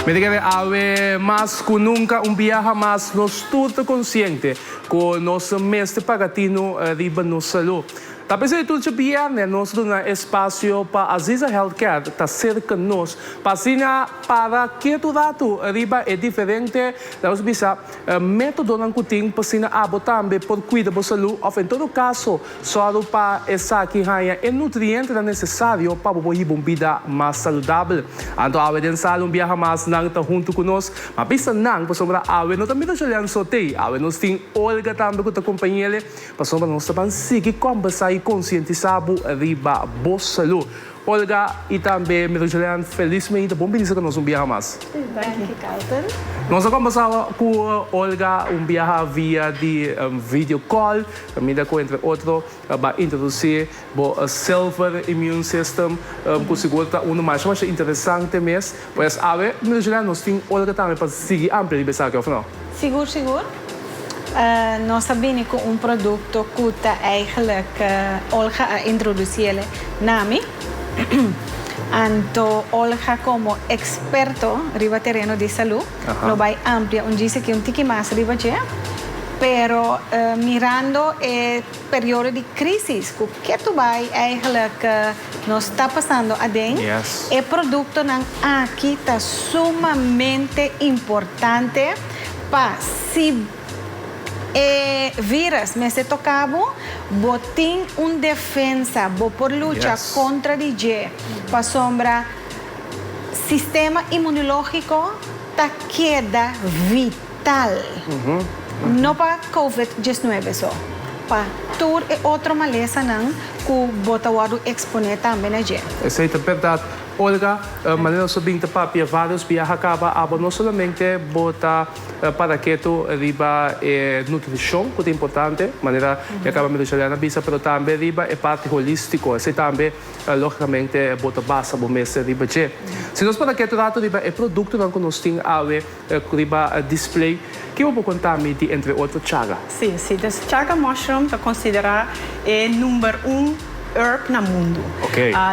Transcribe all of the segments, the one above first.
Mi ta kere awe mas ku nunka un biaha mas. Nos tur ta konsiente ku nos ta mester paga tinu riba nos salú. Ta p'esei e tur dje bierne nos ta duna espasio pa Aziza Health Care ta serka nos, pa asina para ketu ratu riba e diferente, ta nos bisa, Métodonan ku tin pa asina abo tambe por kuida bo salú òf en todo kaso sòru pa esaki haña e nutrientenan nesesario pa bo por hiba un bida mas saludabel. Anto awe den sala un biaha mas nan ta huntu ku nos. M'a bisa nan pasobra awe no ta mira Julian so te. Awe nos tin Olga tambe ku ta kompañ'ele. Pasobra nos ta ban sigui kòmbèrsá i konsientisá bo riba bo salú. Olga y tambe mi ta Julian felizmente a bon bini sa cu nos un biaha mas. Thank you Carlton. Nos a combersaba cu Olga un biaha via di video call, caminda cu entre otro a bay introduci bo silver immune system cu sigur ta uno masha masha interesante mes. Pues awe mi llega nos tin ora tambe pa sigui amplia riba esaki of no? Sigur sigur. Nos a bini cu un producto cu ta eigenlijk Olga a introduci ele na mi. Anto Olga como experto riba tereno di salud lo bay amplia un djis aki un tiki mas riba dje, pero mirando e. periodo di crisis cu ketu bay eigenlijk nos ta pasando aden, e productonan aki ta sumamente importante pa si e virus mester toca bo, bo tin un defensa, bo por lucha contra di dje, pasobra sistema inmunologico ta keda vid. tal, no pa covid diesnuebe so, pa tur e otro malesanan cu bo ta wordo expone tambe na dje. Esey ta berdad Olga, manera nos a bin ta papia varios biaha caba abo no solamente bo ta para ketu riba e nutricion cu ta importante, manera e caba Maria Juliana a bisa, pero tambe riba e parti holistico, esey tambe logicamente bo ta basa bo mes riba dje. Si nos para ketu rato riba e productonan cu nos tin awe, Riba e display, ke bo por konta mi di entre otro chaga? Sí, sí. Dus chaga mushroom ta konsiderá e number un herb na mundu.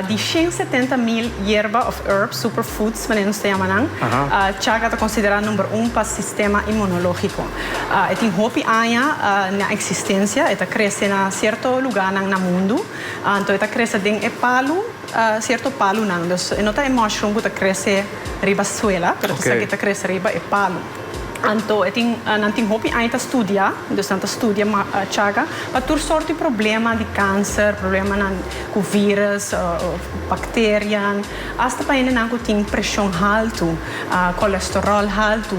Di shen setenta mil yerba òf herb, super foods manera nos ta yama nan, chaga ta konsiderá number un pa sistema inmunológiko. E tin hopi aña na eksistensia, e ta krese na sierto lugánan na mundu. Anto e ta krese den e palu. Cierto palunan, dus e no ta e mushroom cu ta crece riba suela, pero ta sa que ta crece riba e palu. Anto e tin, nan tin hopi aña ta studia, dus nan ta studia chaga pa tur sorti problema di cancer, problemanan cu virus, bacterian, hasta pa hendenan cu tin presion haltu, colesterol haltu,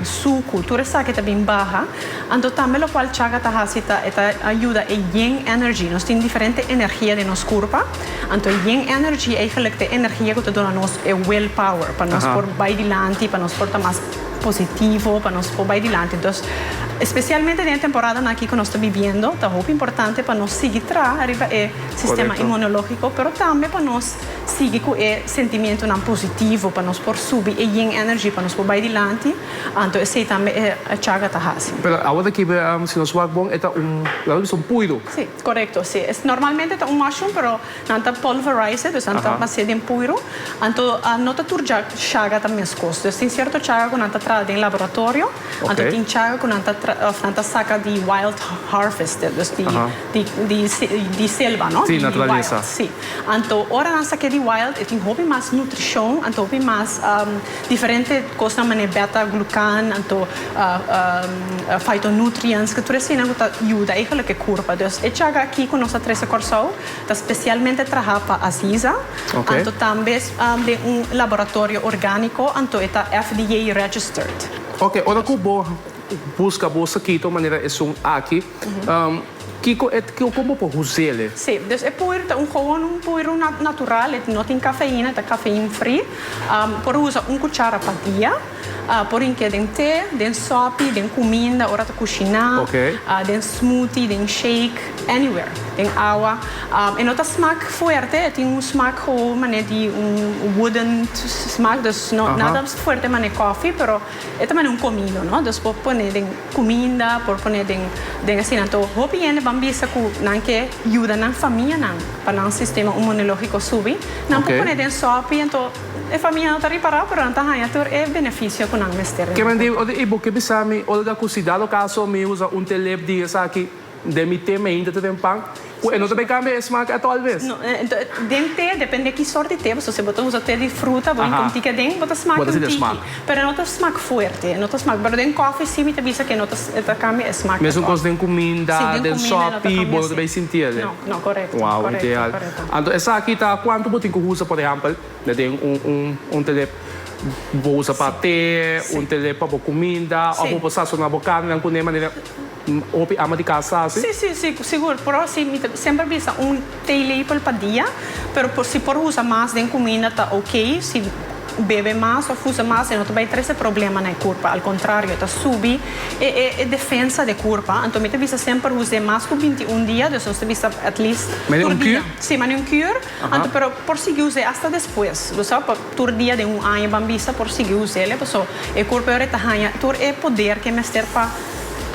sucu, tur esaki ta bin baha. Anto tambe locual chaga ta haci ta e ta yuda e yin energy, nos tin diferente energia den nos curpa. Anto Yin Energy eigenlijk t'e energia cu ta duna nos e will power pa nos por bay dilanti, pa nos por ta mas positivo, pa nos por bay dilanti. Dus, especialmente den e temporadan aki cu nos ta bibiendo, ta hopi importante pa nos sigui traha ariba e sistema inmunologico, pero tambe pa nos sigui cu e sentimentonan positivo, pa nos por subi e Yin Energy, pa nos por bay dilanti, anto esey tambe e Chakra ta haci. Pero awo ta kibe, si nos wak bon, e ta un, laga bisa un puido. Correcto, si. Es normalmente ta un mushroom pero nan ta pulverize, dus nan ta haci'e den puiro, anto no ta tur chaga ta mescos. Dus tin cierto chaga cu nan ta traha den laboratorio, anto tin chaga cu nan ta traha of nan ta saca di wild harvested, dus di selva, no? Di wild, si. Anto ora nan sake'e di wild e tin hopi mas nutricion, anto hopi mas. Diferente kosnan manera beta glukan anto fitonutrients ke tur esina ku ta yuda e holoke kurpa. Dus e chaka aki ku nos ta trese Kòrsou ta spesialmente traha pa Aziza anto tambe den un laboratorio orgániko anto e ta FDA registered. Oke, ora ku bo buska bo sakito manera esun aki. Kiko e ta, kon bo por usél e? Sí, dus e puer ta un gowon, un puer natural, e no tin kafeina, e ta kafein free. Por usa un kuchara pa dia. Por hink'é den té, den sòpi, den kuminda ora ta kushiná, den smoothie, den shake, anywhere, den awa. E no ta smak fuerte, e tin un smak gowou manera di un wooden smak, dus nada fuerte manera kòfi, pero e ta manera un komido, no. Dus bo pone den. Cuminda por pone den den asina anto hopi hende ban bisa cu nan ke yuda nan famianan pa nan sistema umonologico subi nan por pone den sopi anto e famianan ta ripara pero nan ta haya tur e beneficio cu nan mester. Kemen di ota y bo ke bisa mi Olga cu si dado caso mi usa un te lep di esaki. Den mi te mainta ta den pan cu e no ta bay cambia e smaak at all vez? No, den te depende ki sort di te bo ta usa, si bo ta usa te di fruta bo hinca un tiki aden bo ta smaak un tiki, pero no ta smaak fuerte, no ta smaak, pero den coffee si mi ta bisa que no ta cambia e smaak at all. Mesun cos den cuminda, den sopi bo no ta bay sinti e den? No, corecto, corecto, corecto. Anto esaki ta cuantu bo tin cu usa por ehampel na den un tele bo usa pa te, un tele pa bo cuminda of bo por sasona bo carnenan cu ne manera. Hopi ama di cas ta así? Sí, sí, sí, sigur. Por así mi ta semper bisa un teelepel pa dia, pero por si por usa mas den cuminda ta ok, si bebe mas of usa mas e no ta bay trece problema na e curpa, al contrario ta subi e e defensa de curpa, anto mi ta bisa semper us den mas cu binti un dia, dus nos ta bisa at least tur dia. Mane un cure? Sí, mane un cure, anto pero por sigui us e hasta despues, lo sa. Tur dia den un aña Bambista por sigui uséle paso e kurpo e ora e ta haña tur e poder ke mester pa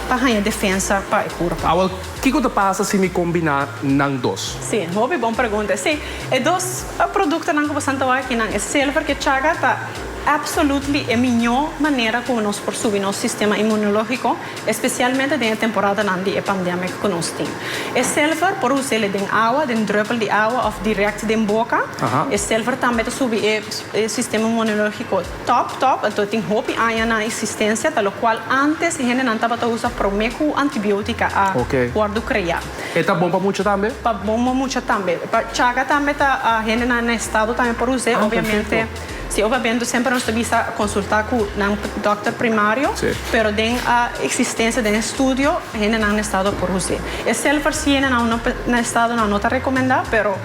pa haña defensa pa e kurpo. Awor, kiko ta pasa si mi kombiná nan dos? Sí, hopi bon pregunta. Sí, e dos produktonan ku bo san ta wak aki nan, e silver ku e chaga ta absolutely e miñó manera ku nos por subi nos sistema inmunológiko. especialmente den e temporadanan di e pandemic cu nos tin. E silver por us'ele den awa, den druppel di awa of direct den boca. E silver tambe ta subi e sistema inmunologico top top, anto tin hopi añanan existencia ta locual antes hendenan tabata usa prome cu antibiotica a wordo crea. E ta bon pa mucha tambe? Pa bon pa mucha tambe. Pa chaga tambe ta, hendenan na estado tambe por us'e, obviamente. Si oba bendo semper nos ta bisa consulta cu nan dokter primario, pero den a existencia den e studio hendenan na estado a por hus'e. E selfarsi hendenan no na estadonan no ta recomenda, pero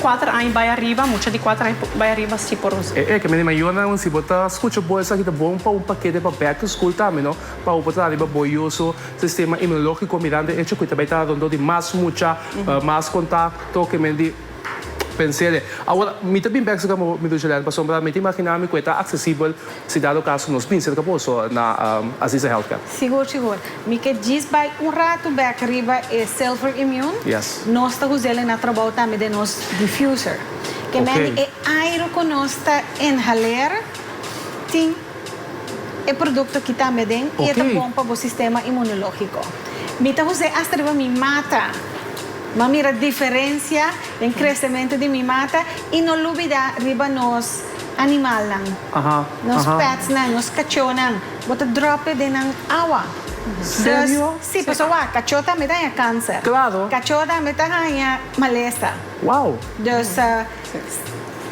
cuater aña bay ariba, mucha di cuater aña bay ariba si por hus'e. E ek'e, Mema Yona, un si bo ta scucha bo esaki ta bon pa un paquete pa back to school tambe no, pa hopi bo ta dal riba bo yoso sistema inmunologico mirando e echo cu e ta bay ta rondó di mas mucha, mas contacto, kemen di. Pens'é. Awor, mi ta bin bekse kamba bo, mi Dulce Len, pasobra mi ta imaginá mi ku e ta aksesibel si dado kaso nos bin serka boso na Aziza Healthcare. Sigur, sigur. Mi ke djis bai un ratu bek riba e Silver Immune. Yes. Nos ta usa el e na trabou tambe den nos diffuser. Ke mende e airo ku nos ta inhaleer tin. E produkto kita mi aden i e ta bon pa bo sistema imunológiko. Mi ta hos'é asta riba mi mata. M'a mira diferensia den kresementu di mi mata i no lubidá riba nos animalnan, nos petsnan, nos kachónan. Bo ta dròp'e den nan awa. Dus, sí, pasobra wak, kachó tambe ta haña kánser. Kachó tambe ta haña malesa. Dus, sí, bo ta.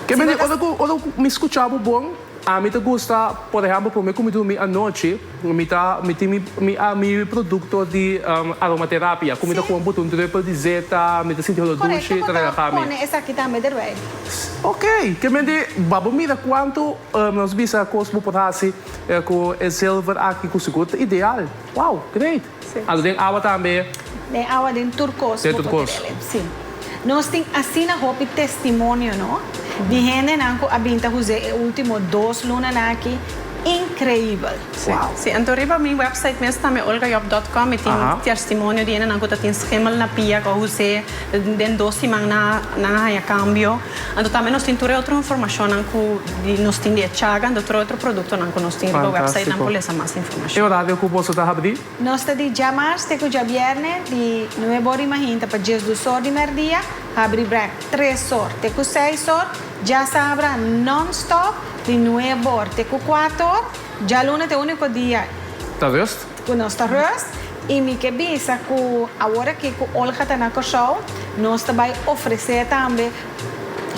Ke mester ora ku mi skuchá bo bon. Ami ta gusta, por ehempel, promé ku mi durmi anochi, mi ta, mi tin mi, mi, ah, mi produkto di um, aromaterapia, ku mi ta Sí. pon bot'e un drupel di zeta, mi ta sinti holo Correcto, dushi, bo ta ta regaha mi. pone esaki tambe derbij. S, Ok, kemente ba bo mira kuantu, um, nos bisa, kos bo por hasi eh, ku e zilver aki, ku sigur ta ideal. Wow, great! Alu den awa tambe. Den awa den tur cos bo por tin elem si. Nos tin asina hopi testimonio no di hendenan cu a bin ta huzé e ultimo dos lunanan aki increibel. Wow. Si anto riba mi website mes tambe olgajob dot com mi tin testimonio di hendenan cu ta tin schemel na pia cu a huzé. Den dos siman na nan a haña kambio. Anto tambe nos tin tur e otro informashonnan ku di nos tin di e chaga anto tur e otro produktonan ku nos tin riba wèpsait nan por lesa mas informashon. E orario ku boso ta habri? Nos ta di djamars te ku djabièrnè di nuebe or di mahinta pa djes dus or di mèrdia, habri brèk tres or te ku seis or, djasabra non-stop di nuebe or te ku kuater or, djaluna ta e úniko dia. Ta rust? Cu nos ta rust y mi ke bisa cu aworaki cu Olga ta na Corsou nos ta bay ofrece tambe,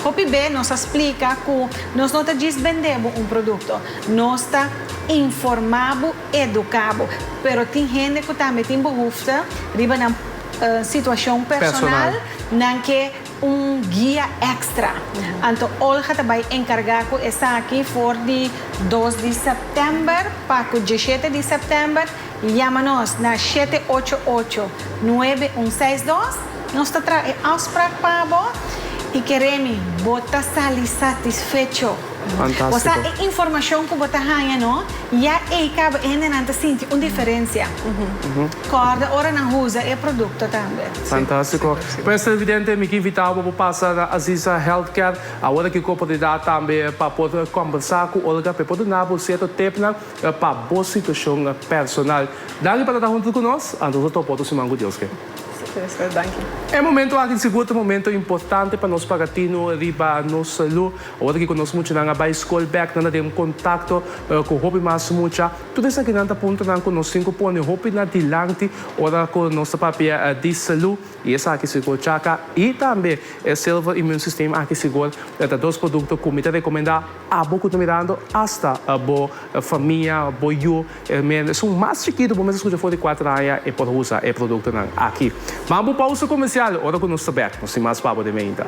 hopi be nos a splica cu nos no ta djis bende bo un producto, nos ta informa bo, educa bo, pero tin hende cu tambe tin behoefte riba nan situacion personal nan ke. Un guia extra. Anto Olga ta bai encarga cu esaki for di dos di september pa cu diecisiete di september yama nos na shete ocho ocho nuebe un seis dos. Nos ta traha e afsprak pa bo y keremi bo ta sali satisfecho. Bo sa e informacion cu bo ta haya no, ya ey caba e hendenan ta sinti un diferencia. Corda ora nan usa e producto tambe. Fantastico. Pues televidente mi ki invita bo pa pasa na Aziza Health Care awor ki cu oportunidad tambe pa por combersa cu Olga pa e por duna bo cierto tipnan pa bo situacion personal. Danki pa ta ta hunto cu nos and nos a topa otro siman cu Dios ke. Super, danki. E momento aki di sigur ta momento importante pa nos paga tino riba nos salud awor ki cu nos muchanan a bay school bek nan a den contacto cu hopi mas mucha. Tur esakinan ta puntonan ku nos tin ku pone hopi na dilanti ora ku nos ta papia di salú i esaki sigur chaka i tambe e Silver Immune System aki sigur ta dos produkto ku mi ta rekomendá abo ku ta mirando asta bo famia, bo yu e men es un mas chikitu bo mes ta skucha for di kuater aña e por usa e produktonan aki. Manga bo pausa komersial ora ku nos ta bèk nos tin mas pa bo den meinta.